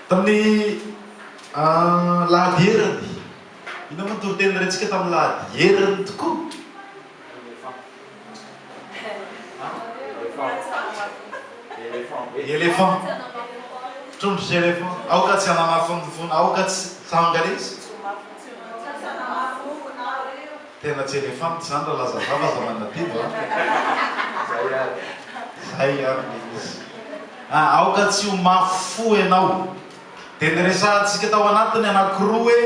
Tamin'ny Lahady Herany. Inona moa ny toriteny nirentsika tamin'ny Lahady Herany tokoa? Elephant. Trondro sy elephant. Aoka tsy hanamafy ny fony, aoka tsy. Samy gaga izy. Tena tsy elefanta zany ra laza zany aza manadibo a! Zay ary. Zay ary le izy. A! Aoka tsy ho mafy fo enao. De niresahantsika tao anatiny anakiroa hoe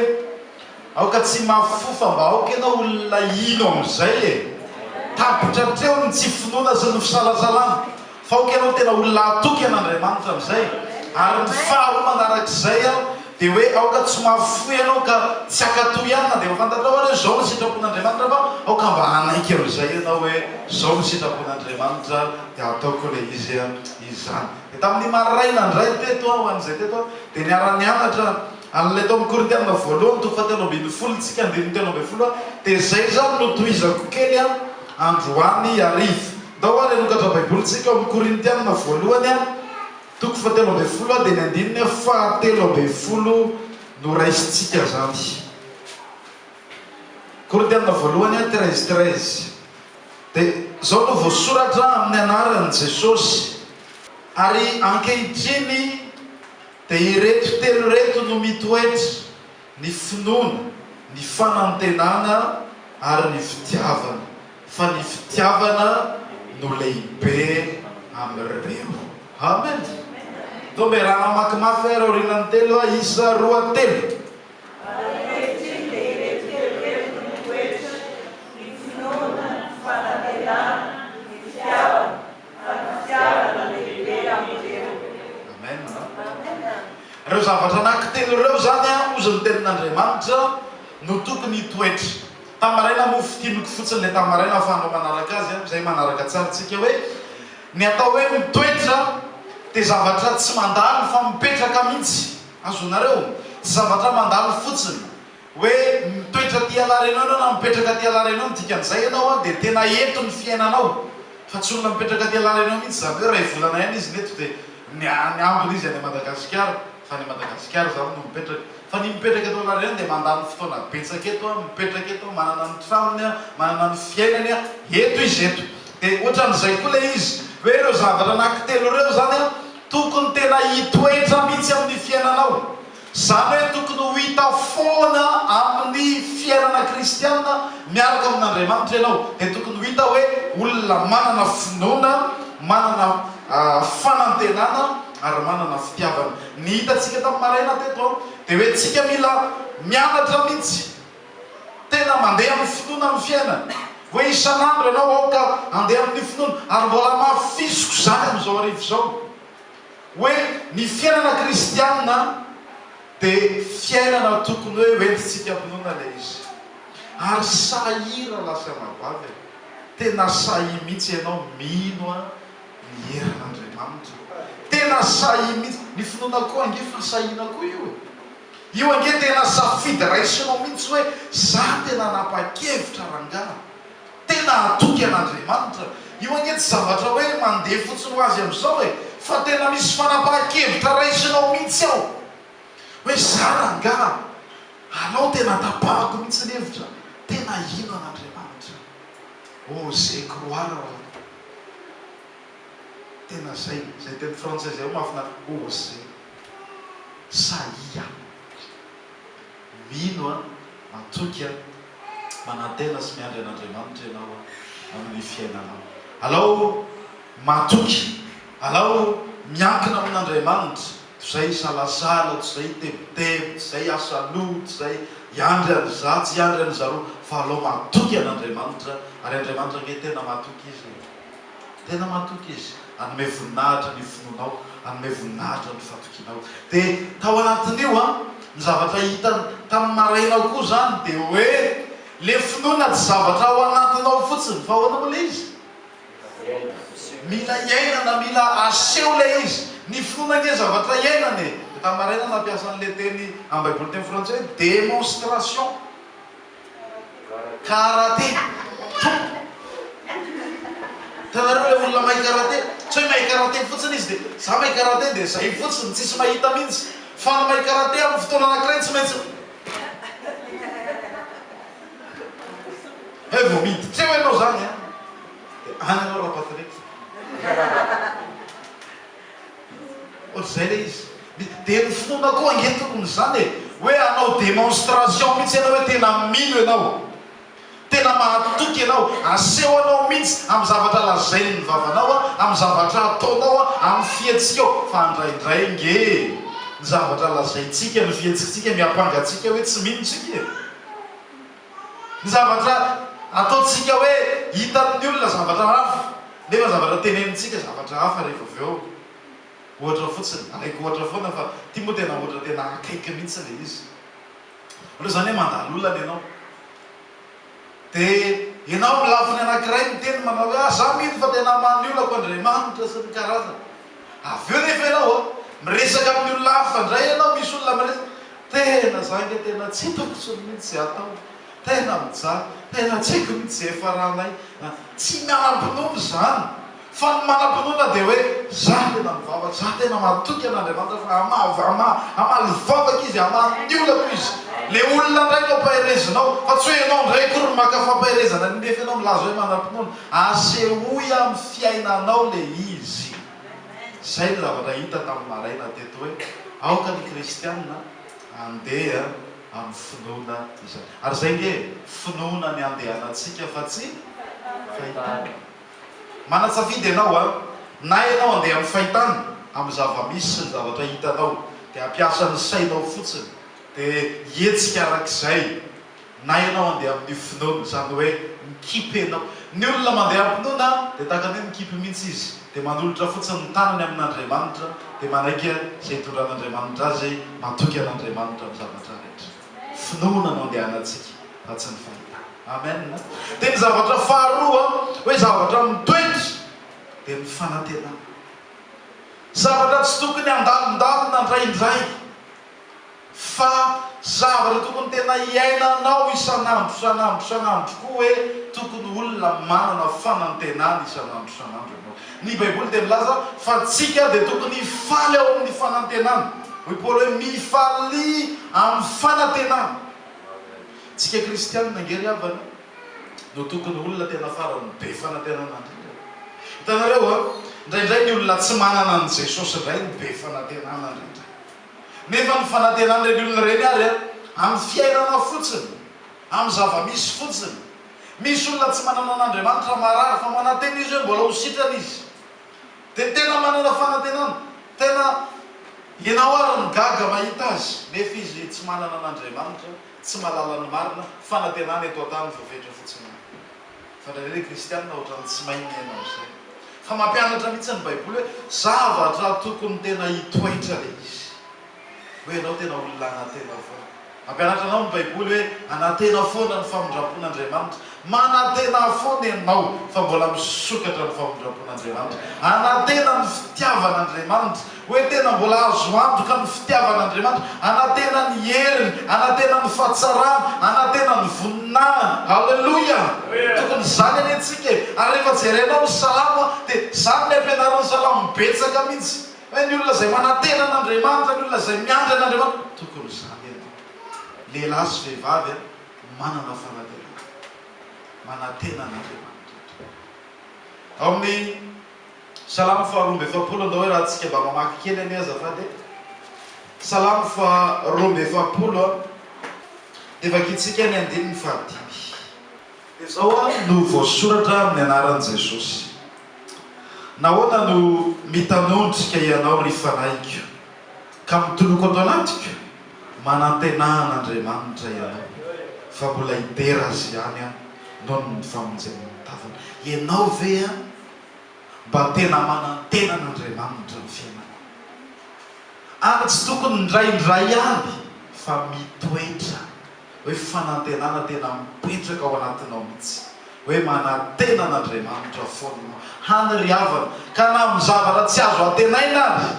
aoka tsy mafy fo fa mba aoka enao olona hino amizay e! Tapitra hatreo ny tsy finoana sy ny fisalasalana. Fa ok ianao tena olona hatoky an Andriamanitra amizay ary ny faharoa manarak'izay an dia hoe aoka tsy mafy fo ianao ka tsy hakato ihany na dia efa fantatrao ary hoe zao no sitrapon'Andriamanitra fa aoka mba hanaiky amizay ianao hoe zao no sitrapon'Andriamanitra dia hataoko ilay izy an izany dia tamin'ny maraina indray teto an ho an'izay teto an dia niara-nianatra an'ilay tao amin'ny Korintiana voalohany toko fahatelo ambin'ny folo isika andininy telo ambin'ny folo an dia izay izany no tohizako kely an androany hariva. Ndao ary hanokatra Baiboly tsika ao amin'ny Korintiana voalohany toko fahatelo ambin'ny folo dia ny andininy fahatelo ambin'ny folo no raisintsika izany. Korintiana voalohany treize treize dia izao no voasoratra amin'ny anaran'i Jesosy ary ankehitriny dia ireto telo ireto no mitoetra ny finoana, ny fanantenana ary ny fitiavana, fa ny fitiavana no lehibe amin'ireo. Amen! Toa mbe rà namaky mafy ary aorianan'ny telo aho, isa, roa, telo. Ary ankehitriny dia ireto telo ireto no mitoetra, ny finoana, ny fanantenana, ny fitiavana. Fitiavana lehibe hamonjena. Amen a. Ireo zavatra anankitelo ireo izany an, hozy ny Tenin'Andriamanitra, no tokony hitoetra. Tamaraina moa fintiniko fotsiny ilay tamaraina fa hanao manaraka azy an, izay manaraka tsara tsika hoe, ny atao hoe mitoetra dia zavatra tsy mandalo fa mipetraka mihitsy. Azonareo? Tsy zavatra mandalo fotsiny. Hoe mitoetra aty Alarenao ianao na mipetraka aty Alarenao ny dikan'izay ianao an dia tena eto ny fiainanao fa tsy olona mipetraka aty Alarenao mihitsy izany hoe iray volana ihany izy neto dia ny any ambiny izy any Madagasikara fa any Madagasikara izany no mipetraka fa ny mipetraka eto Alarenao dia mandany fotoana betsaka eto an mipetraka eto an manana ny tranony an manana ny fiainany an eto izy eto dia ohatran'izay koa ilay izy hoe ireo zavatra anaky telo ireo izany an tokony tena hitoetra mihitsy amin'ny fiainanao Izany hoe tokony ho hita foana amin'ny fiainana kristiana miaraka amin'Andriamanitra ianao, dia tokony ho hita hoe olona manana finoana, manana fanantenana ary manana fitiavana. Ny hitantsika tamin'ny maraina teto dia hoe tsika mila mianatra mihitsy tena mandeha amin'ny finoana amin'ny fiainana, hoe isan'andro ianao aoka handeha amin'ny finoana, ary mbola hamafisiko izany amin'izao arivo izao. hoe ny fiainana kristiana dia fiainana tokony hoe hoentintsika am-pinoana ilay izy. Ary sahia rahalahy sy anabavy e! Tena sahia mihitsy ianao mino ny herin'Andriamanitra. Tena sahia mihitsy. Ny finoana koa ange efa sahiana koa io e! Io ange tena safidy raisinao mihitsy hoe za tena nanapa-kevitra rangahy. Tena hatoky an'Andriamanitra. Io anie tsy zavatra hoe mandeha fotsiny ho azy amin'izao e, fa tena misy fanapahan-kevitra raisinao mihitsy ao. Hoe za rangaha, anao tena tapahako mihitsy ny hevitra, tena hino an'Andriamanitra. Oser croire hono. Tena zay, zay teny frantsay zay mahafinaritra, oser. Sahia. Mino aho, matoky aho, manantena sy miandry an'Andriamanitra ianao amin'ny fiainanao. Alao matoky, alao miankina amin'Andriamanitra, tsy izay hisalasala, tsy izay hitebiteby, tsy izay hiasa loha, tsy izay hiandry an'iza, tsy hiandry an'izaroa, fa alao matoky an'Andriamanitra, ary Andriamanitra ange tena matoky izy e! Tena matoky izy, hanome voninahitra ny finoanao, hanome voninahitra ny fatokianao. Dia tao anatin'io an, ny zavatra hitany tamin'ny maraina ao koa izany dia hoe, ilay finoana tsy zavatra ao anatinao fotsiny, fa ahoana moa ilay izy? Mila iainana, mila aseho ilay izy. Ny finoana ange zavatra iainana e! Dia tamin'ny maraina nampiasa an'ilay teny amin'ny Baiboly teny frantsay hoe démonstration. Karate Tompo! Hitanareo ilay olona mahay karate? Tsy hoe mahay karate fotsiny izy dia, za mahay karate dia zay fotsiny, tsisy mahita mihintsy. Fa ny mahay karate amin'ny fotoana anankiray tsy maintsy hay vao miditra eo ianao zany an! Dia any ianao Rapatrick. Ohatr'izay le izy. De ny finoana koa ange tokony izany e! Hoe hanao démonstration mihitsy ianao hoe tena mino ianao, tena mahatoky ianao, asehonao mihitsy amin'ny zavatra lazainy ny vavanao, amin'ny zavatra ataonao, amin'ny fihetsikao, fa indraindray nge ny zavatra lazaintsika, ny fihetsiktsika miampanga antsika hoe tsy mino tsika e! Ny zavatra ataontsika hoe hitan'ny olona zavatra hafa nefa zavatra tenenintsika zavatra hafa rehefa avy eo. Ohatra fotsiny, alaiko ohatra foana fa ity moa tena ohatra tena akaiky mihitsy ilay izy. Ohatra izany hoe mandalo olana ianao dia ianao amin'ny lafiny anankiray miteny manao hoe ah za mino fa tena maha ny olako Andriamanitra sy ny karazany. Avy eo nefa ianao a, miresaka amin'ny olona hafa indray ianao, misy olona miresaka, tena za ange tena tsy hitako intsony mihitsy izay ataony, tena mijaly, tena tsy haiko mihitsy izay ifaranay a. Tsy manam-pinoana izany, fa ny manam-pinoana dia hoe, za tena mivavaka, za tena matoky an'Andriamanitra fa hamaha, hamaly vavaka izy, hamaha ny olako izy. Ilay olona indray no ampaherezinao, fa tsy hoe ianao indray akory no maka fampaherezana ny nefa ianao milaza hoe manam-pinoana. Asehoy amin'ny fiainanao le izy. Zay ny zavatra hita tamin'ny maraina teto hoe aoka ny kristiana handeha amin'ny finoana izany. Ary zay nge e, finoana ny andehanantsika fa tsy fahitana. Manatsafidy ianao an, na ianao handeha amin'ny fahitana, amin'ny zava-misy sy ny zavatra hitanao, dia hampiasa ny sainao fotsiny, dia hihetsika arak'izay, Na ianao handeha amin'ny finoana, izany hoe mikipy ianao. Ny olona mandeha am-pinoana dia tahaka ny hoe mikipy mihitsy izy, dia manolotra fotsiny ny tanany amin'Andriamanitra, dia manaiky izay hitondran'Andriamanitra azy, matoky an'Andriamanitra amin'ny zavatra rehetra. Finoana no andehanantsika fa tsy ny fahitana. Amen. Dia ny zavatra faharoa, hoe zavatra mitoetra, dia ny fanantenana. Zavatra tsy tokony handalondalona indraindray. Fa zavatra tokony tena iainanao isan'andro isan'andro isan'andro tokoa hoe tokony olona manana fanantenana isan'andro isan'andro ianao. Ny Baiboly dia milaza fa antsika dia tokony hifaly ao amin'ny fanantenana. Hoy Paoly hoe, Mifalia amin'ny fanantenana. Isika kristiana ange ry havana no tokony olona tena faran'ny be fanantenana indrindra. Hitanareo an, indraindray ny olona tsy manana an'i Jesosy indray no be fanantenana indrindra. Nefa ny fanantenan'ireny olona ireny ary amin'ny fiainana fotsiny, amin'ny zava-misy fotsiny. Misy olona tsy manana an'Andriamanitra marary fa manantena izy hoe mbola ho sitrana izy. Dia tena manana fanantenana, tena ianao ary no gaga mahita azy, nefa izy tsy manana an'Andriamanitra, tsy mahalala ny marina, fanantenana eto an-tany voafetra fotsiny. Fantatrareo hoe kristianina ohatran'ny tsy mahay miaina amin'izay. Fa mampianatra mihitsy ny Baiboly hoe zavatra tokony tena hitoetra ilay izy. Hoe ianao tena olona anatena foana. Mampianatra anao ny Baiboly hoe anatena foana ny famindram-pon'Andriamanitra. Manatena foana ianao fa mbola misokatra ny famindram-pon'Andriamanitra. Anatena ny fitiavan'Andriamanitra. Hoe tena mbola azo antoka ny fitiavan'Andriamanitra, anantena ny heriny, anantena ny fahatsarany, anantena ny voninahiny. Haleloia! Tokony izany anie tsika e! Ary rehefa jerenao ny salamo dia izany ny ampianarin'ny salamo betsaka mihitsy. Hoe ny olona izay manantena an'Andriamanitra, ny olona izay miandry an'Andriamanitra. Tokony izany anie! Lehilahy sy vehivavy a, manana fanatenana. Manantena an'Andriamanitra tokoa. Ao amin'ny. Salamo faha roa amby efapolo Andao hoe raha tsika mba mamaky kely anie azafady e! Salamo faha roa amby efapolo a! Dia vakintsika ny andininy faha dimy. Dia izao a no voasoratra amin'ny anaran'i Jesosy, Nahoana no mitanondrika ianao ry fanahiko? Ka mitoloko ato anatiko, manantenà an'Andriamanitra ianao, fa mbola hidera azy ihany aho noho ny famonjeny ny tavany. Ianao ve mba tena manantena an'Andriamanitra ny fiainako? Ary tsy tokony indraindray ihany, fa mitoetra. hoe fanantenana tena mipetraka ao anatinao mihitsy hoe manantena an'Andriamanitra foana ianao hany ry havana ka na amin'ny zavatra tsy azo antenaina ary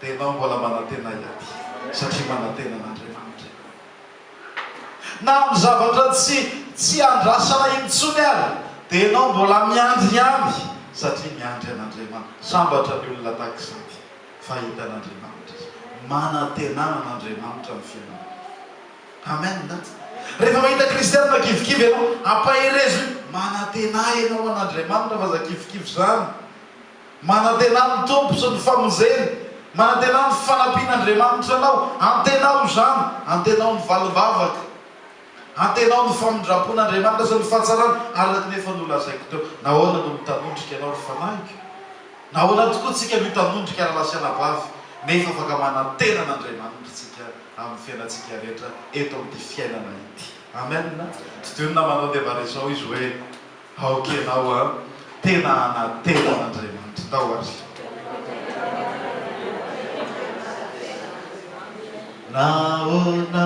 dia ianao mbola manantena hiady satria manantena an'Andriamanitra ianao na amin'ny zavatra tsy tsy andrasana intsony ary dia ianao mbola miandry ihany satria miandry an'Andriamanitra sambatra ny olona tahaka izany fa hita an'Andriamanitra izy manantenana an'Andriamanitra amin'ny fiainanao. Amen that. Rehefa mahita kristianina kivikivy ianao, ampaherezo io, manantena ianao an'Andriamanitra fa za kivikivy zany. Manantena amin'ny Tompo sy ny famonjeny. Manantena ny fanampian'Andriamanitra anao. Antenao izany. Antenao ny valim-bavaka. Antenao ny famindram-pon'Andriamanitra sy ny fahatsarany, araka ny efa nolazaiko teo. Nahoana no mitanondrika ianao ry fanahiko? Nahoana tokoa tsika mitanondrika rahalahy sy anabavy, nefa afaka manantena an'Andriamanitra tsika? amin'ny fiainantsika rehetra eto amin'ity fiainana ity. Amen! Todiony namanao dia mba resao izy hoe, Aoka ianao an! Tena hanantena an'Andriamanitra tao ary. Nahoana?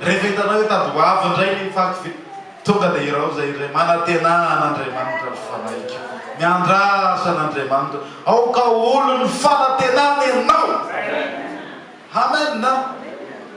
Rehefa hitanao hoe tady ho avy indray ny faty ve? Tonga dia irao izay re, Manantena an'Andriamanitra ry fanahiko, miandrasa an'Andriamanitra, aoka ho olon'ny fanantenana ianao! Amen a!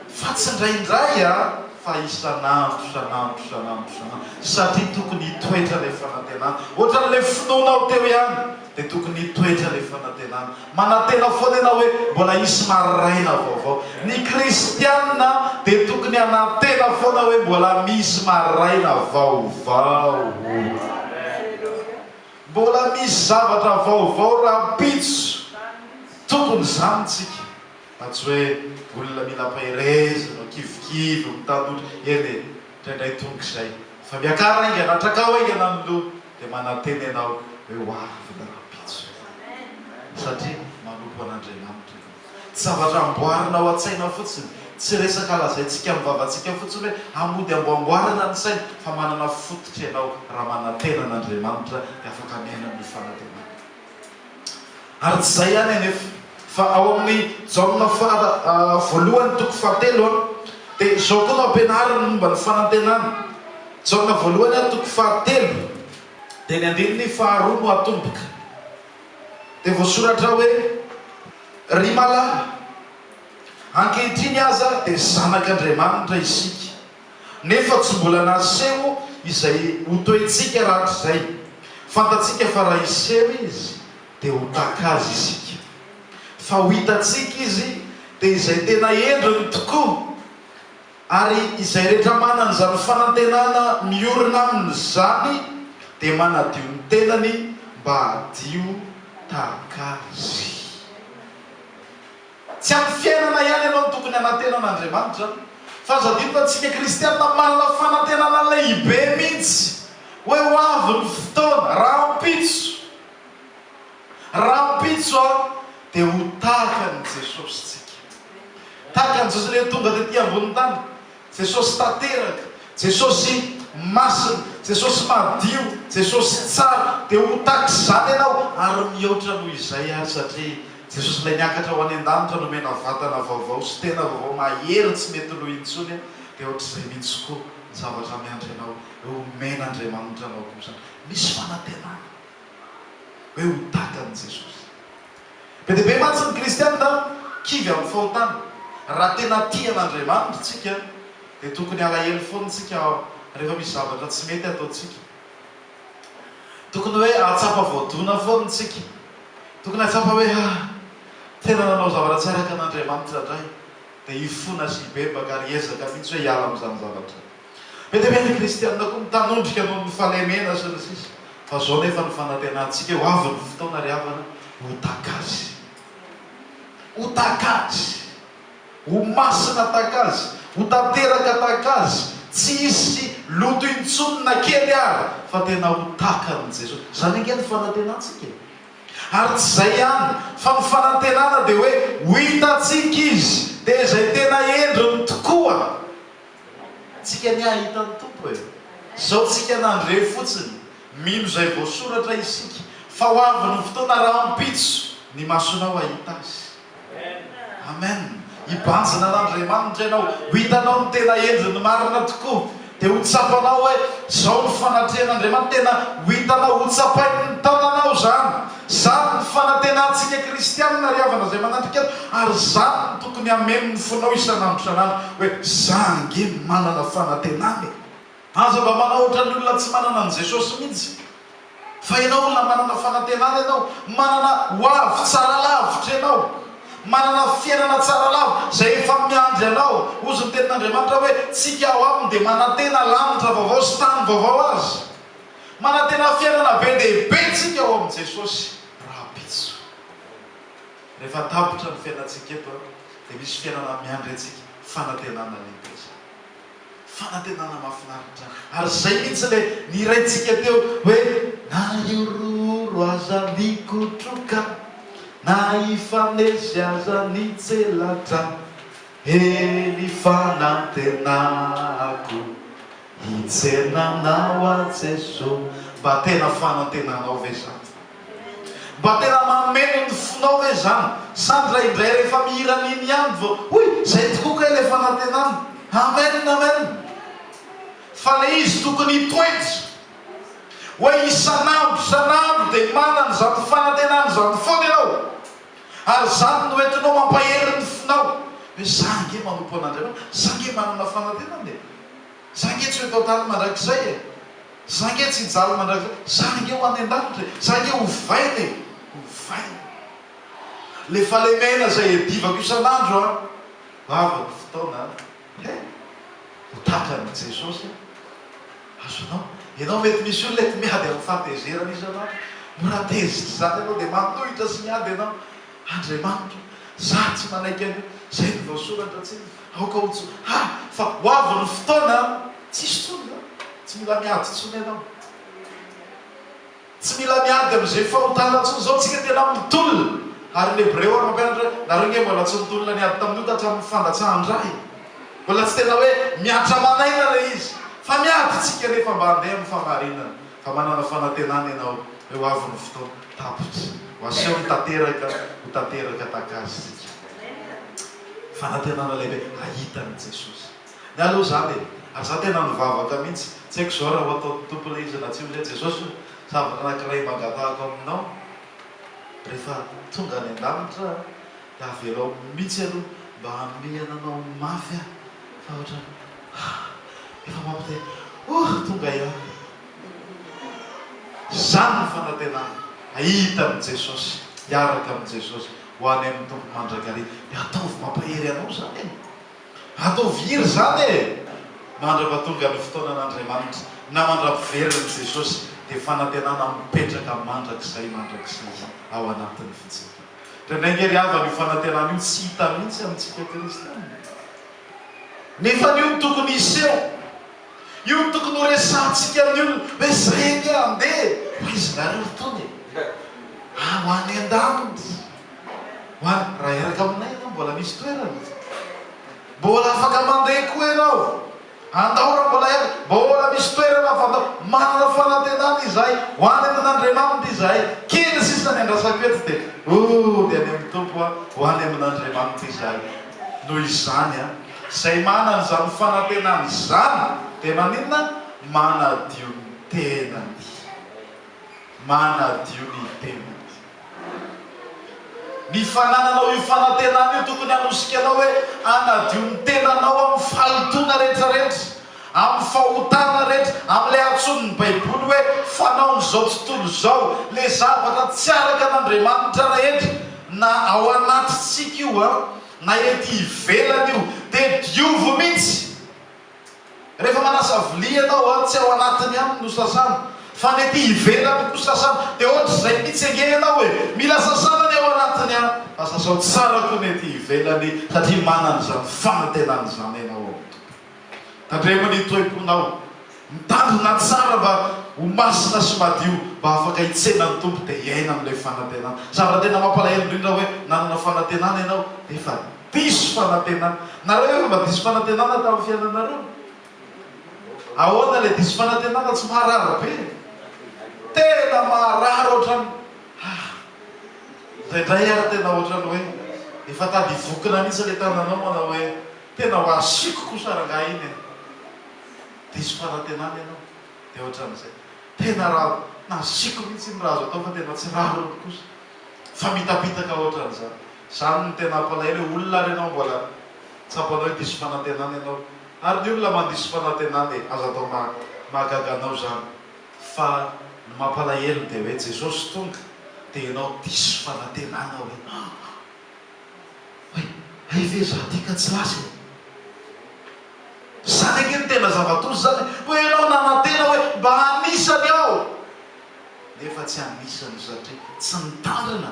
Fa tsy indraindray a, fa isan'andro, isan'andro, isan'andro, isan'andro, satria tokony hitoetra ilay fanantenana, ohatran'ilay finoanao teo ihany. dia tokony hitoetra ilay fanantenana. Manantena foana ianao hoe mbola hisy maraina vaovao. Ny kristiana dia tokony hanantena foana hoe mbola misy maraina vaovao. Mbola misy zavatra vaovao rahampitso. Tokony izany isika. Fa tsy hoe olona mila am-paherezana, mikivikivy, mitanotry. Eny e, indraindray tonga izay. Fa miakara haingana, atrakao haingana ny loha. Dia manantena ianao hoe ho avy ny rahampitso. Satria manompo an'Andriamanitra ianao. Tsy zavatra amboarina ao an-tsaina fotsiny. Tsy resaka lazaintsika amin'ny vavantsika fotsiny hoe hamody amboamboarana ny saina, fa manana fototra ianao raha manantena an'Andriamanitra dia afaka miaina amin'io fanantenana io. Ary tsy izay ihany anefa, fa ao amin'ny Jaona fara voalohany toko fahatelo dia izao koa no ampianariny momba ny fanantenana. Jaona voalohany toko fahatelo dia ny andininy faharoa no atomboka. Dia voasoratra hoe, Ry malala, ankehitriny aza dia zanak'Andriamanitra isika. Nefa tsy mbola naseho izay ho toetsika rahatrizay. Fantatsika fa raha hiseho Izy, dia ho taka Azy isika. Fa ho hitantsika Izy, dia izay tena endriny tokoa. Ary izay rehetra manana izany fanantenana miorina aminy izany, dia manadio ny tenany mba hadio tahaka Azy. Tsy amin'ny fiainana ihany ianao no tokony hanantena an'Andriamanitra, fa azo adino fa antsika kristiana manana fanantenana lehibe mihitsy hoe ho avy ny fotoana, rahampitso, rahampitso aho, dia ho tahaka an'i Jesosy tsika. Tahaka an'i Jesosy ilay tonga tety ambonin'ny tany. Jesosy tanteraka, Jesosy masina, Jesosy madio, Jesosy tsara, dia ho tahaka izany ianao ary mihoatra noho izay ary satria Jesosy ilay niakatra ho any an-danitra nomena vatana vaovao sy tena vaovao mahery tsy mety lo intsony dia ohatr'izay mihitsy koa ny zavatra miandry anao hoe homen'Andriamanitra anao kosa misy fanantenana hoe ho tahaka an'i Jesosy. Be dia be mantsy ny kristiana kivy amin'ny fahotana. Raha tena tia an'Andriamanitra isika dia tokony halahelo foana isika rehefa misy zavatra tsy mety ataontsika. Tokony hoe hahatsapa voadona foana isika. Tokony hahatsapa hoe ha! tena nanao zavatra tsy araka an'Andriamanitra indray, dia hifona sy hibebaka ary hiezaka mihitsy hoe hiala amin'izany zavatra. Be dia be ny kristiana koa mitanondrika noho ny falemena sy ny sisa Fa zao nefa ny fanantenantsika ho avy ny fotoana ry havana ho takazy Ho takazy Ho masina takazy Ho tanteraka takazy Tsy hisy loto intsony na kely ary Fa tena ho takan'i Jesosy Izany ange ny fanantenantsika e Ary tsy izay ihany fa ny fanantenana dia hoe ho hitantsika Izy Dia izay tena endriny tokoa Tsika anie ahita ny Tompo e! Zao tsika nandre fotsiny, mino izay voasoratra isika, fa ho avy ny fotoana rahampitso ny masonao hahita Azy. Amen! Hibanjina an'Andriamanitra ianao, ho hitanao ny tena endriny marina tokoa, dia ho tsapanao hoe zao ny fanatrehan'Andriamanitra, tena ho hitanao, ho tsapain'ny tananao izany. Izany ny fanantenantsika kristianina ry havana izay manatrika ato, ary izany no tokony hameno ny fonao isan'andro isan'andro hoe, za ange manana fanantenana e! Aza mba manao ohatran'ny olona tsy manana an'i Jesosy mihitsy fa ianao olona manana fanantenana ianao, manana hoavy tsara lavitra ianao, manana fiainana tsara lava izay efa miandry anao, hozy ny tenin'Andriamanitra hoe, tsika ao aminy dia manantena lanitra vaovao sy tany vaovao aza. Manantena fiainana be dia be isika ao amin'i Jesosy rahampitso. Rehefa tapitra ny fiainantsika eto, dia misy fiainana miandry antsika, fanantenana lehibe izany. Fanantenana mahafinaritra izany. Ary izay mihitsy ilay nihiraintsika teo hoe, Na hiroro aza ny kotroka, na hifanesy aza ny tselatra, he ny fanantenako. Hijanona aminao aho Jeso Mba tena fanantenanao ve zany? Mba tena mameno ny fonao ve zany? Sa ndraindray rehefa mihira an'iny ihany vao Hoy! Zay tokoa kay le fanantenana! Amen! Amen! Fa le izy tokony hitoetra hoe isan'andro isan'andro dia manana izany fanantenana izany foana ianao ary izany no entinao mampahery ny fonao hoe za ange manompo an'Andriamanitra, za ange manana fanantenana e! Za nge tsy ho eto an-tany mandrakizay e! Za nge tsy hijaly mandrakizay! Za nge ho any an-danitra e! Za nge ho vaina e! Ho vaina! Le fahalemena zay iadivako isan'andro an! Lava ny fotoana an! He! Ho tratran'i Jesosy an! Azonao? Ianao mety misy olona eto miady amin'ny fahatezerana isan'andro. Mora tezitra izany ianao dia manohitra sy miady ianao. Andriamanitra. Zah tsy manaiky an'io. Zay no voasoratra tsinona. Aoka ho tso. Ha! Fa ho avy ny fotoana an! Tsisy tsony izany. Tsy mila miady tsony ianao. Tsy mila miady amin'izay fahotana tsony. Zao tsika tena mitolona. Ary ny Hebreo ary mampianatra hoe, nareo nge mbola tsy nitolona niady tamin'io tatramin'ny fandatsahan-dra e. Mbola tsy tena hoe miatra aman'aina ilay izy. Fa miady tsika nefa mba handeha amin'ny fahamarinana. Fa manana fanantenana ianao hoe ho avy ny fotoana tapitra ho aseho ny tanteraka ho tanteraka tahaka azy isika. Fanantenana lehibe hahita an'i Jesosy. Ny ahy aloha izany e! Ary izaho tena nivavaka mihitsy, tsy haiko izao raha ho ataon'ny Tompo ilay izy na tsia hoe Jesosy o! zavatra anankiray mangatahako aminao rehefa tonga any an-danitra aho Avelao mitsy aloha mba hamehana anao mafy aho fa otrany ah efa mampite oh tonga ihany oh. Zany ny fanantenana ahita an'i Jesosy, hiaraka amin'i Jesosy ho any amin'ny Tompo mandrakariva. Dia ataovy mampahery anao zany e. Ataovy hiry zany e. Mandrava tonga ny fotoanan'Andriamanitra na mandra-piverin'i Jesosy dia fanantenana mipetraka mandrakizay mandrakizay ao anatin'ny fijerinao. Indraindraingy ary havana io fanantenana io tsy hita mihitsy amintsika kristiana. Nefany io no tokony hiseho. Io no tokony ho resahantsika amin'ny olona hoe zay ange andeha ho aizinareo itony e! Ah, ho any an-danitra, ho any, raha hiaraka aminay ianao mbola misy toerana? Mbola afaka mandeha koa ianao? Andao mbola ihany, mbola misy toerana fantatra. Manana fanantenana izahay ho any amin' Andriamanitra izahay. Kely sisa ny andrasako eto dia oh, dia any amin' ny Tompo an, ho any amin' Andriamanitra izahay. Noho izany an, izay manana izany fanantenana izany dia maninona? Manadio ny tenany. Manadio ny tenany. Ny fanananao io fanantenana io tokony hanosika anao hoe hanadio ny tenanao amin'ny fahintona rehetrarehetra, amin'ny fahotana rehetra, amin'ilay antsoin'ny Baiboly hoe fanaon'izao tontolo izao, ilay zavatra tsy araka an'Andriamanitra rehetra, na ao anatintsika io na ety ivelany io, dia diovy mihitsy. Rehefa manasa vilia ianao an, tsy ao anatiny ihany no sasana fa ny ety ivelany koa sasana, dia ohatr'izay mitsy ange ianao hoe mila sasana ny ao anatiny an, fa sasao tsara koa ny ety ivelany satria manana izany fanantenana izany ianao ao amin'ny Tompo. Tandremo ny toe-ponao, mitandrina tsara mba ho masina sy madio mba afaka hitsena ny Tompo dia hiaina amin'ilay fanantenana. Zavatra tena mampalahelo indrindra hoe nanana fanantenana ianao nefa. Diso fanantenana. Nareo efa mba diso fanantenana tamin'ny fiainanareo? Ahoana ilay diso fanantenana tsy maharary be? Tena maharary ohatran'ny ah! Indraindray ary tena ohatran'ny hoe efa tady hivokona mihitsy ilay tananao manao hoe tena ho asiako kosa rangahy iny e! Diso fanantenana ianao dia ohatran'izay. Tena raha nasiako mihitsy iny raha azo atao fa tena tsy rariny kosa. Fa mitapitaka ohatran'izany. Izany no tena ampalahelo hoe olona ary ianao mbola tsapanao hoe diso fanantenana ianao. Ary ny olona mandiso fanantenana e! Aza atao mahagaga anao izany. Fa ny mampalahelo dia hoe Jesosy tonga dia ianao diso fanantenana hoe hoe hay ve izaho ity ka tsy lasa e! Izany ange no tena zava-doza izany e! Hoe ianao nanantena hoe mba hanisany aho. nefa tsy anisan'ny satria tsy nitandrina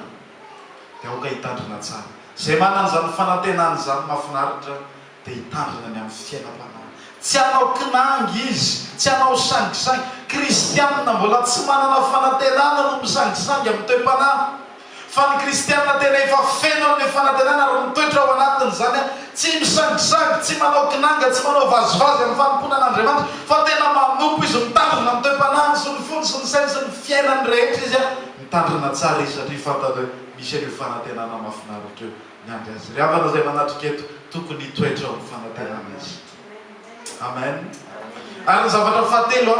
dia aoka hitandrina tsara izay manana izany fanantenana izany mafinaritra dia hitandrina ny amin'ny fiainam-panahy tsy hanao kinangy izy tsy hanao sangisangy kristianina mbola tsy manana fanantenana no misangisangy amin'ny toe-panahy Fa ny kristiana tena efa feno amin'ny fanantenana ary mitoetra ao anatin'izany, tsy misangisangy, tsy manao kinanga, tsy manao vazivazy amin'ny fanompoana an'Andriamanitra, fa tena manompo izy, mitandrina ny toe-panahiny sy ny fony sy ny sainy sy ny fiainany rehetra izy, mitandrina tsara izy satria fantany hoe misy an'io fanantenana mahafinaritra io miandry azy. Ry havana izay manatrika eto, tokony hitoetra ao amin'ny fanantenana isika. Amen. Ary ny zavatra fahatelo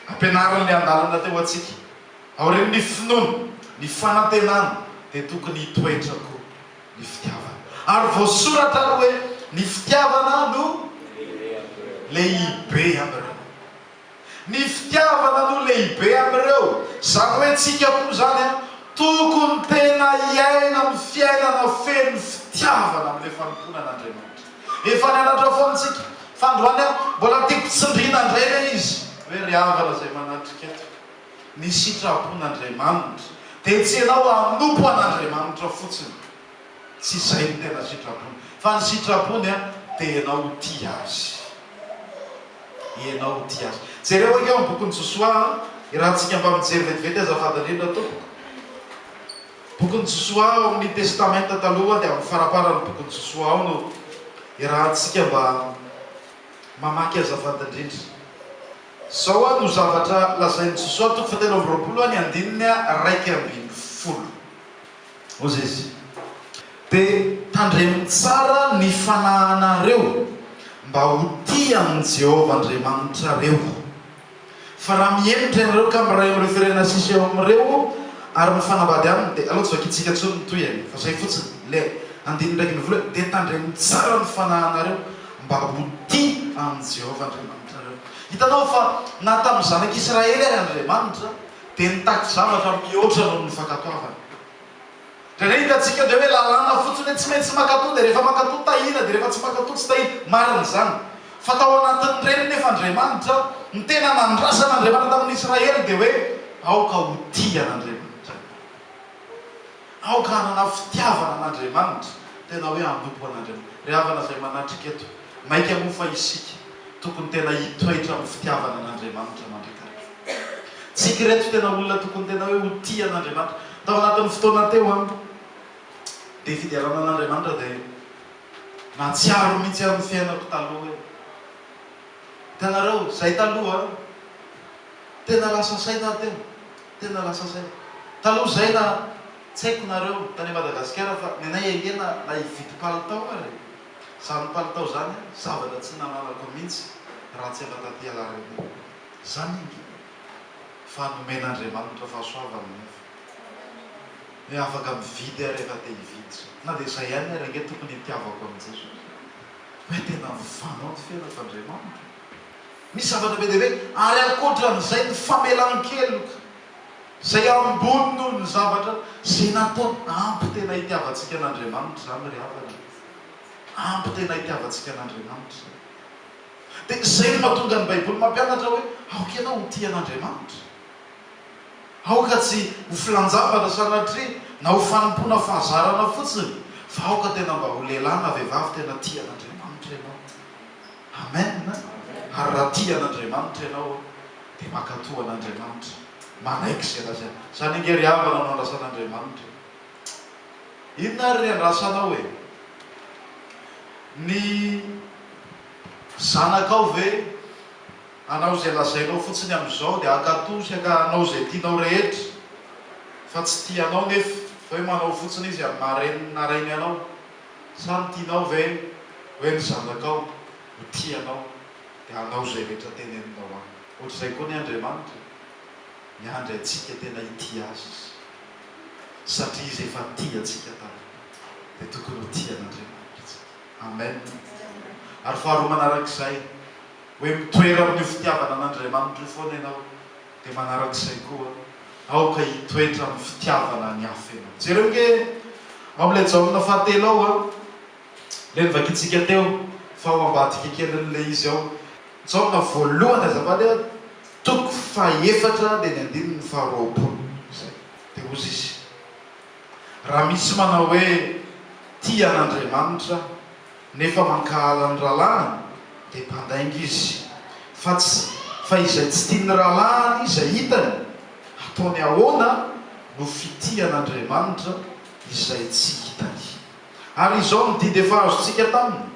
ampianarin'ny andalana teo antsika, Aorian'ny finoana, ny fanantenana dia tokony hitoetra koa ny fitiavana. Ary voasoratra ary hoe, Ny fitiavana no lehibe amin'ireo. Ny fitiavana no lehibe amin'ireo, izany hoe tsika koa izany tokony tena hiaina amin'ny fiainana feno fitiavana amin'ilay fanompoana an'Andriamanitra. Efa nianatra foana tsika fa androany aho mbola tiako tsindriana indray ilay izy hoe ry havana izay manatrika eto. ny sitrapon'Andriamanitra dia tsy ianao hanompo an'Andriamanitra fotsiny, tsy izay no tena sitrapony, fa ny sitrapony dia ianao ho tia Azy, ianao ho tia Azy. Jereo ange ao amin'ny bokin'i Josoa, iarahantsika mba mijery vetivety azafady indrindra tompoko. Bokin'i Josoa ao amin'ny Testamenta Taloha dia amin'ny faramparan'ny bokin'i Josoa ao no iarahantsika mba mamaky azafady indrindra. Izao aho no zavatra lazain'i Jesoa toko fahatelo amby roapolo ny andininy iraika ambin'ny folo. Mozesy, dia tandremo tsara ny fanahinareo mba ho tia an'i Jehovah Andriamanitrareo. Fa raha mihemotra ianareo ka miray amin'ireo firenena sisa eo amin'ireo ary mifanambady aminy, dia aleo tsy vakintsika intsony ny tohiny, fa izay fotsiny, ilay andininy iraika ambin'ny folo hoe, Dia tandremo tsara ny fanahinareo mba ho tia an'i Jehovah Andriamanitrareo. Nareo. Hitanao fa na tamin'ny Zanak'i Israely ary Andriamanitra dia nitaky zavatra mihoatra noho ny fankatoavana. Dia re hitantsika ve hoe lalàna fotsiny hoe tsy maintsy mankatoa dia rehefa mankatoa tahiana dia rehefa tsy mankatoa tsy tahiana. Marina izany. Fa tao anatin'ireny nefa Andriamanitra, ny tena nandrasana Andriamanitra tamin'ny Israely dia hoe aoka ho tia an'Andriamanitra ianareo. Aoka hanana fitiavana an'Andriamanitra, tena hoe hanompo an'Andriamanitra. Ry havana izay manatrika eto, maika moa fa isika tokony tena hitoetra amin'ny fitiavana an'Andriamanitra mandrakariva. Tsika ireto tena olona tokony tena hoe ho tia an'Andriamanitra. Tao anatin'ny fotoana teo an, dia fiderana an'Andriamanitra dia nahatsiaro mihitsy aho ny fiainako taloha hoe, hitanareo, izay taloha an, tena lasa saina aho teo, Tena lasa zay. Taloha izay na tsy haiko nareo tany Madagasikara fa ny anay ahiana na hividy palitao ary e! Zany palitao zany a, zavatra tsy nananako mintsy raha tsy efa taty alaharana iny. Zany ange fa nomen'Andriamanitra fahasoavana nefa hoe afaka mividy aho rehefa te hividy. Na dia izay ihany ary ange tokony hitiavako an'i Jesosy hoe tena mifanao ny fiainako Andriamanitra. Misy zavatra be dia be ary ankoatran'izay ny famelan-keloka izay ambony noho ny zavatra izay nataony. Ampy tena hitiavantsika an'Andriamanitra izany ry havana e! Ampy tena hitiavantsika an'Andriamanitra izany. Dia izay no mahatonga ny Baiboly mampianatra hoe aoka ianao ho tia an'Andriamanitra. Aoka tsy ho filan-javatra sanatria na ho fanompoana fahazarana fotsiny fa aoka tena mba ho lehilahy na vehivavy tena tia an'Andriamanitra ianao. Amen a! Ary raha tia an'Andriamanitra ianao dia mankato an'Andriamanitra, manaiky izay lazainy. Izany ange ry havana no andrasan'Andriamanitra e! Inona ary ry andrasanao e? Ny zanakao ve? Hanao izay lazainao fotsiny amin'izao dia hankato sy hanao izay tianao rehetra fa tsy tia anao nefa hoe manao fotsiny izy amin'ny maha reniny na rainy anao. Samy tianao ve hoe ry zanakao ho tia anao dia hanao izay rehetra teneninao aminy? Ohatr'izay koa ny Andriamanitra e! Miandry antsika tena hitia Azy Izy, satria Izy efa tia antsika tamin'ny maty, dia tokony ho tia an'Andriamanitra isika. Amen! Ary faharoa manarak'izay, hoe mitoera amin'io fitiavana an'Andriamanitra io foana ianao. Dia manaraka izay koa, aoka hitoetra amin'ny fitiavana ny hafa ianao. Jereo ange ao amin'ilay Jaona fahatelo ao, ilay novakintsika teo fa ao ambadika kelin'ilay izy ao. Jaona voalohany, azafady, toko fahefatra dia ny andininy faharoapolo. Izay. Dia hozy izy, Raha misy manao hoe, Tia an'Andriamanitra aho, Nefa mankahala ny rahalahiny dia mpandainga izy, fa tsy fa izay tsy tian'ny rahalahiny izay hitany, ataony ahoana no fitian'Andriamanitra izay tsy hitany? Ary izao ny didy efa azontsika taminy,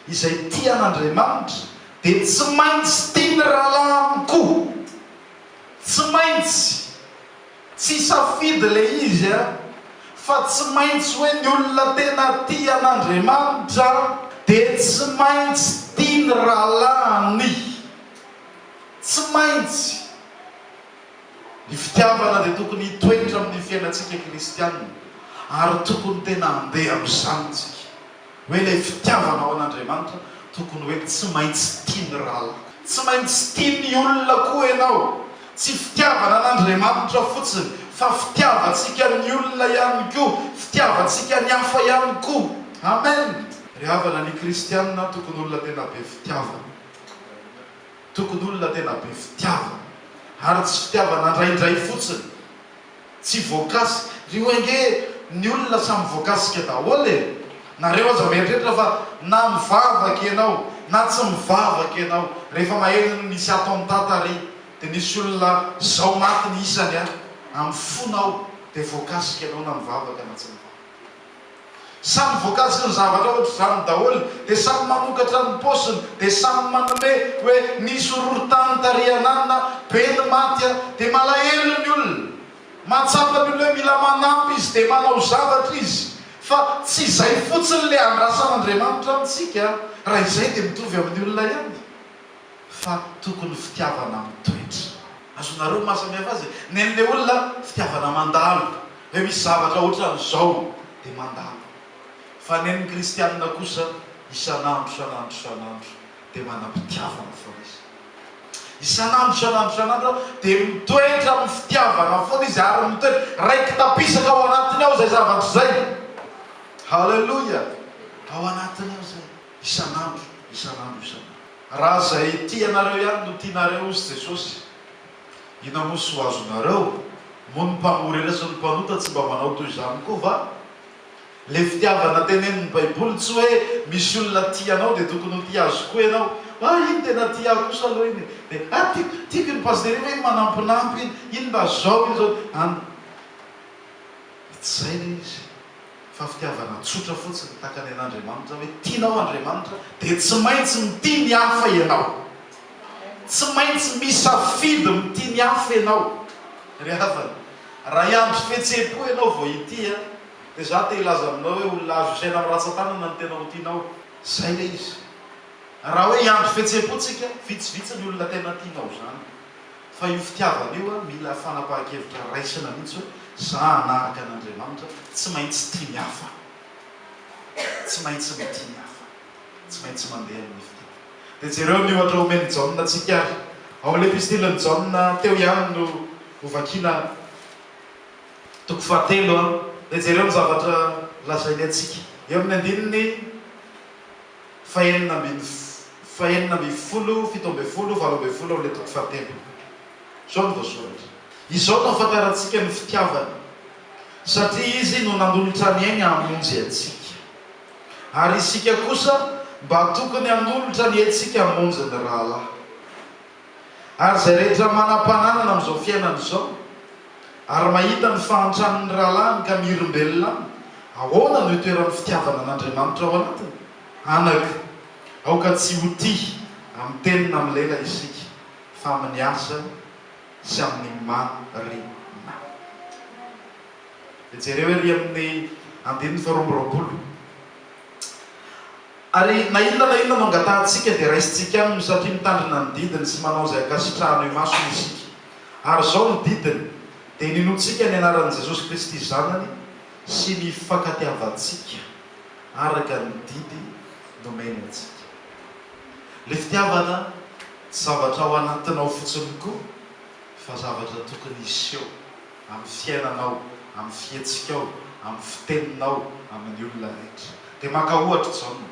Izay tia an'Andriamanitra dia tsy maintsy tia ny rahalahiny koa. Tsy maintsy. Tsy safidy le izy a! Fa tsy maintsy hoe ny olona tena tia an'Andriamanitra dia tsy maintsy tia ny rahalahiny. Tsy maintsy. Ny fitiavana dia tokony hitoetra amin'ny fiainantsika kristianina ary tokony tena handeha amin'izany isika. hoe ilay fitiavanao an'Andriamanitra tokony hoe tsy maintsy tian'ny ralaka. Tsy maintsy tian'ny olona koa ianao. Tsy fitiavana an'Andriamanitra fotsiny fa fitiavantsika ny olona ihany koa, fitiavantsika ny hafa ihany koa. Amen! Ry havana, ny kristiana tokony olona tena be fitiavana. Tokony olona tena be fitiavana. Ary tsy fitiavana indraindray fotsiny Tsy voakasika. Ry wenge ny olona samy voakasika daholo e! Nareo aza mieritreritra fa na mivavaka ianao na tsy mivavaka ianao rehefa maheno ny nisy ato am tata ry de nisy olona zao maty ny isany a! am fonao de voakasika ianao na mivavaka na tsy mivavaka. Samy vokatry ny zavatra ohatr'izany daholo dia samy mamokatra ny paosiny dia samy manome hoe nisy horohorontany tary an'Anona be ny maty an! dia malahelo ny olona! mahatsapa ny olona hoe mila manampy izy dia manao zavatra izy fa tsy izay fotsiny le andrasan'Andriamanitra amintsika an! raha izay dia mitovy amin'ny olona ihany. fa tokony fitiavana mitoetra. Azonareo ny mahasamihafa azy e! Ny an'ilay olona fitiavana mandalo, hoe misy zavatra ohatran'izao dia mandalo. Fa ny an'ny kristianina kosa isan'andro, isan'andro, isan'andro dia manam-pitiavana foana izy. Isan'andro, isan'andro, isan'andro dia mitoetra amin'ny fitiavana foana izy ary mitoetra. Raiki-tapisaka ao anatiny ao izay zavatra izay. Haleloia! Ao anatiny ao izay. Isan'andro, isan'andro, isan'andro. Raha izay tianareo ihany no tianareo, hozy Jesosy, inona moa soa azonareo? Moa ny mpamory ireo sy ny mpanota tsy mba manao toy izany koa va? Ilay fitiavana tenenin'ny Baiboly tsy hoe misy olona tia anao dia tokony ho tia azy koa ianao. Ah, iny tena tia ahy kosa aloha iny e! Dia, ah, tiako, tiako iny Pasitera iny, hoe iny manampinampy iny, iny mba izao, iny izao. Any, dia tsy izay ilay izy. fa fitiavana tsotra fotsiny takany an'Andriamanitra hoe tianao Andriamanitra dia tsy maintsy mitia ny hafa ianao. Tsy maintsy misafidy mitia ny hafa ianao. Ry havana, raha hiandry fihetseham-po ianao vao hitia dia za te hilaza aminao hoe olona azo isaina amin'ny ratsan-tanana ny tena ho tianao. Zay ilay izy. Raha hoe hiandry fihetseham-po tsika, vitsivitsy ny olona tena tianao izany. Fa io fitiavana io an, mila fanapahan-kevitra raisina mihitsy hoe za hanaraka an' Andriamanitra, tsy maintsy tia ny hafa, tsy maintsy mitia ny hafa, tsy maintsy mandeha amin' ny fitiavana. Dia jereo ny ohatra omen'i Jaona antsika ary. Ao amin'ilay epistilin'i Jaona teo ihany no hovakiana toko fahatelo an, dia jereo ny zavatra lazainy antsika eo amin'ny andininy fahenina ambin'ny fahenina ambin'ny folo, fito ambin'ny folo, valo ambin'ny folo ao amin'ilay toko fahatelo. Izao no voasoratra. Izao no ahafantarantsika ny fitiavany, satria Izy no nanolotra ny ainy hamonjy antsika. Ary isika kosa mba tokony hanolotra ny aintsika hamonjy ny rahalahy. Ary izay rehetra manam-pananana amin'izao fiainana izao, ary mahita ny fahantran'ny rahalahiny ka mirimbelona aminy, ahoana no hitoeran'ny fitiavana an'Andriamanitra ao anatiny? Anak. Aoka tsy ho tia amin'ny teny na amin'ny lela isika, fa amin'ny asa sy amin'ny marina. Dia jereo ery amin'ny andininy faharoa amby roapolo. Ary na inona na inona no angatahantsika dia raisintsika aminy satria mitandrina ny didiny sy manao izay ankasitrahany eo imasony isika. Ary izao ny didiny, dia ny inoantsika ny anaran'i Jesosy Kristy Zanany sy ny hifankatiavantsika araka ny didy nomeny antsika. Ilay fitiavana tsy zavatra ao anatinao fotsiny koa fa zavatra tokony hiseho. amin'ny fiainanao, amin'ny fihetsikao, amin'ny fiteninao amin'ny olona araiky. Dia maka ohatra Jaona.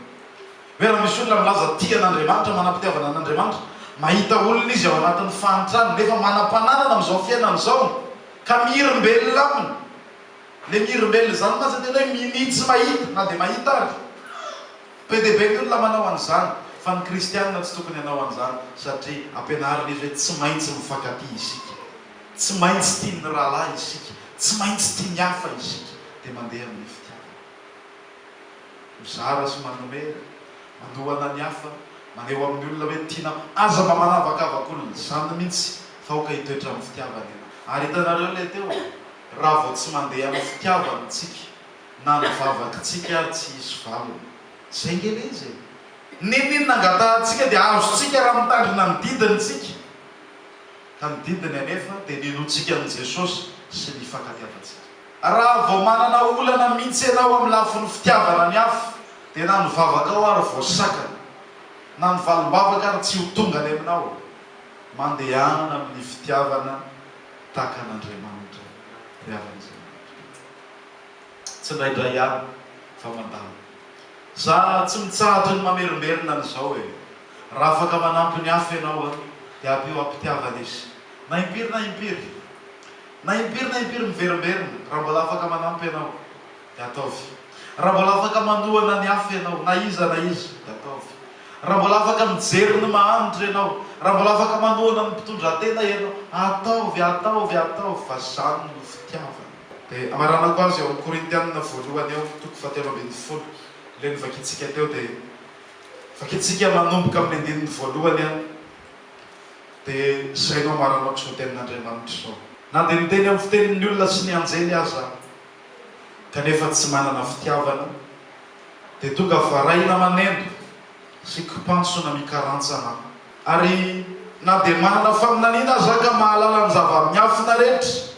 Hoe raha misy olona milaza tia an'Andriamanitra, manam-pitiavana an'Andriamanitra, mahita olona izy ao anatin'ny fahantrana nefa manam-pananana amin'izao fiainany izao ka mihirimbelona aminy. Ilay mihirimbelona izany mantsy tena hoe minia tsy mahita na dia mahita ary. Be dia be ny olona manao an'izany fa ny kristiana tsy tokony hanao an'izany satria ampianarin'izy hoe tsy maintsy mifankatia isika. Tsy maintsy tia ny rahalahy isika, tsy maintsy tia ny hafa isika, dia mandeha amin'ny fitiavana. Mizara sy manome, manohana ny hafa, maneho amin'ny olona hoe tianao, aza mba manavakavaka olona, izany mihitsy fa aoka hitoetra amin'ny fitiavana ianao. Ary hitanareo ilay teo e, raha vao tsy mandeha amin'ny fitiavana isika, na ny vavakintsika ary tsy hisy valiny. Izay ange ilay izy e! N'inon'inona angatahantsika dia azontsika raha mitandrina ny didiny isika. ka ny didiny anefa dia ny hinoantsika an'i Jesosy sy ny hifankatiavantsika. Raha vao manana olana mihitsy ianao amin'ny lafiny fitiavana ny hafa dia na ny vavakao ary vao sakana, na ny valim-bavaka ary tsy ho tonga any aminao. Mandehana amin'ny fitiavana tahaka an'Andriamanitra ry havan'Andriamanitra. Tsindraindray ihany fa mandalo. Za tsy mitsahatra ny mamerimberina an'izao e! Raha afaka manampy ny hafa ianao an, dia ampio am-pitiavana izy. Na impiry na impiry. Na impiry na impiry miverimberina, raha mbola afaka manampy ianao, dia ataovy. Raha mbola afaka manohana ny hafa ianao, na iza na iza, dia ataovy. Raha mbola afaka mijery ny mahantra ianao, raha mbola afaka manohana ny mpitondratena ianao, ataovy, ataovy, ataovy, fa izany no fitiavana. Dia amaranako azy eo amin'ny Korintianina voalohany eo, toko fahatelo ambin'ny folo, ilay novakintsika teo, dia vakintsika manomboka amin'ny andininy voalohany an, dia izay no amaranako izao tenin'Andriamanitra izao. Na dia miteny amin'ny fitenin'ny olona sy ny anjely aza aho, kanefa tsy manana fitiavana, dia tonga varahina maneno sy kipantsona mikarantsana aho. Ary na dia manana faminaniana aza aho ka mahalala ny zava-miafina rehetra,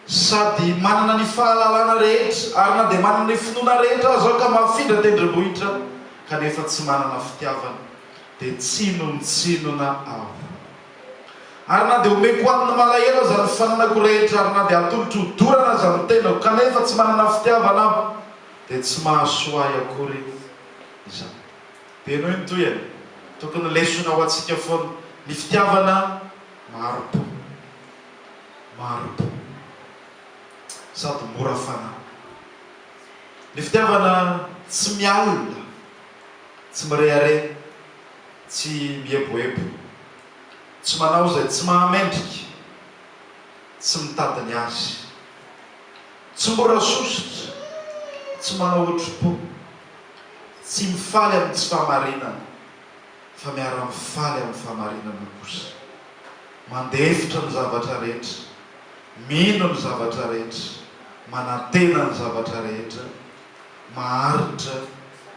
Sady manana ny fahalalana rehetra, ary na dia manana ny finoana rehetra aza aho ka mahafindra tendrombohitra, kanefa tsy manana fitiavana, dia tsinontsinona aho. Ary na dia omeko ho an'ny malahelo aza ny fananako rehetra, ary na dia hatolotro ho dorana aza ny tenako, kanefa tsy manana fitiavana aho, dia tsy mahasoa ahy akory izany. Dia henoy ny tohiny. Tokony lesona ho antsika foana ny fitiavana maro-po. maro be sady mora fanahy. Ny fitiavana tsy miala, tsy mirehareha, tsy mieboebo, tsy manao izay tsy mahamendrika, tsy mitady ny azy, tsy mora sosotra, tsy manao hotrim-po, tsy mifaly amin'ny tsy fahamarinana fa miara-mifaly amin'ny fahamarinana kosa. Mandefitra ny zavatra rehetra, mino ny zavatra rehetra, manantena ny zavatra rehetra, maharitra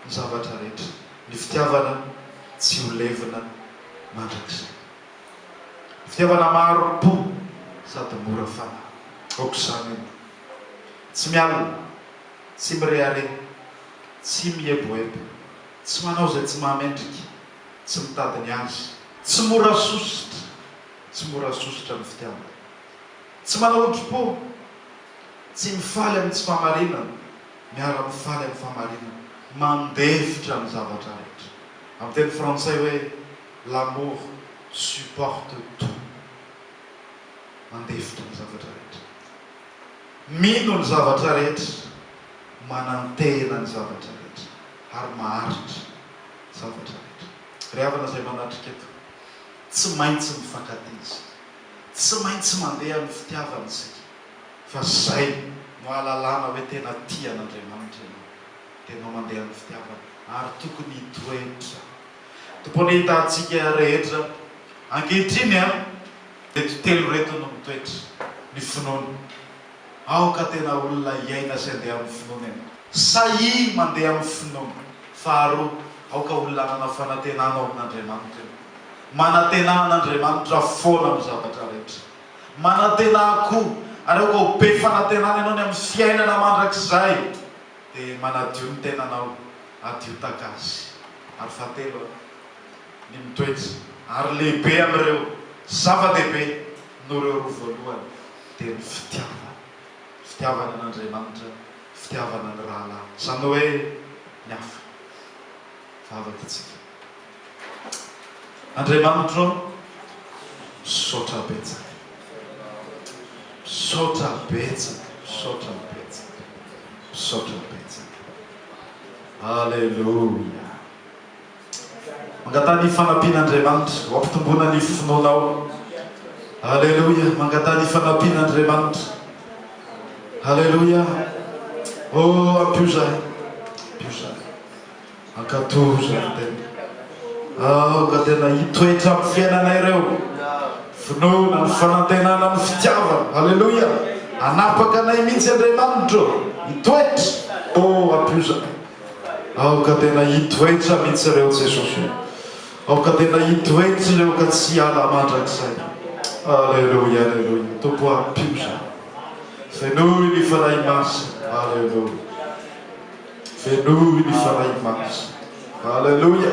ny zavatra rehetra. Ny fitiavana tsy ho levona mandrakizay. Ny fitiavana maharim-po sady mora fanahy. Aok'izany io. Tsy mialona, tsy mirehareha, tsy mieboebo, tsy manao izay tsy mahamendrika. tsy mitady ny azy. Tsy mora sosotra, tsy mora sosotra ny fitiavana. Tsy manao odimpo, tsy mifaly amin'ny tsy fahamarinana, miara-mifaly amin'ny fahamarinana, mandefitra ny zavatra rehetra. Amin'ny teny frantsay hoe l'amour supporte tout, mandefitra ny zavatra rehetra, mino ny zavatra rehetra, manantena ny zavatra rehetra. ary maharitra zavatra rehetra. Ry havana izay manatrika eto, tsy maintsy mifankatia isika, tsy maintsy mandeha amin'ny fitiavana isika, fa izay no ahalalana hoe tena tia an'Andriamanitra ianao, dia ianao mandeha amin'ny fitiavana, ary tokony hitoetra. Tokony hitantsika rehetra ankehitriny an, ireto telo ireto no mitoetra, ny finoana, Aoka tena olona hiaina sy handeha amin'ny finoana ianao. Sahia mandeha amin'ny finoana. Faharoa, aoka olona hanana fanantenana ao amin'Andriamanitra ianao. Manantenaha an'Andriamanitra foana amin'ny zavatra rehetra. Manantenaha koa, ary aoka ho be fanantenana ianao ny amin'ny fiainana mandrakizay. Dia manadio ny tenanao, adio takasy. Ary fahatelo, ny mitoetra. Ary lehibe amin'ireo zava-dehibe noho ireo roa voalohany. dia ny fitiavana. Ny fitiavana an' Andriamanitra, ny fitiavana ny rahalahy. Izany hoe ny hafa. Vavaka isika. Andriamanitro ô, misaotra betsaka. Misaotra betsaka, misaotra betsaka, misaotra betsaka. Aleloia. Mangataha ny fanampian'Andriamanitra ho ampitomboana ny finoanao. Aleloia! Mangataha ny fanampian'Andriamanitra. Aleloia! Oh, ampio zahay. Ampio zahay. Ankatò zahay tena. Aoka tena hitoetra amin'ny fiainana ireo. Finoana, ny fanantenana, ny fitiavana. Aleloia! Anapaka anay mihitsy Andriamanitro. Hitoetra. Oh, ampio zahay. Aoka tena hitoetra mihitsy ireo Jesosy o. Aoka tena hitoetra ireo ka tsy hiala mandrakizay. Aleloia aleloia Tompo o ampio za. Fenoy ny Fanahy Masina. Aleloia. Fenoy ny Fanahy Masina. Aleloia.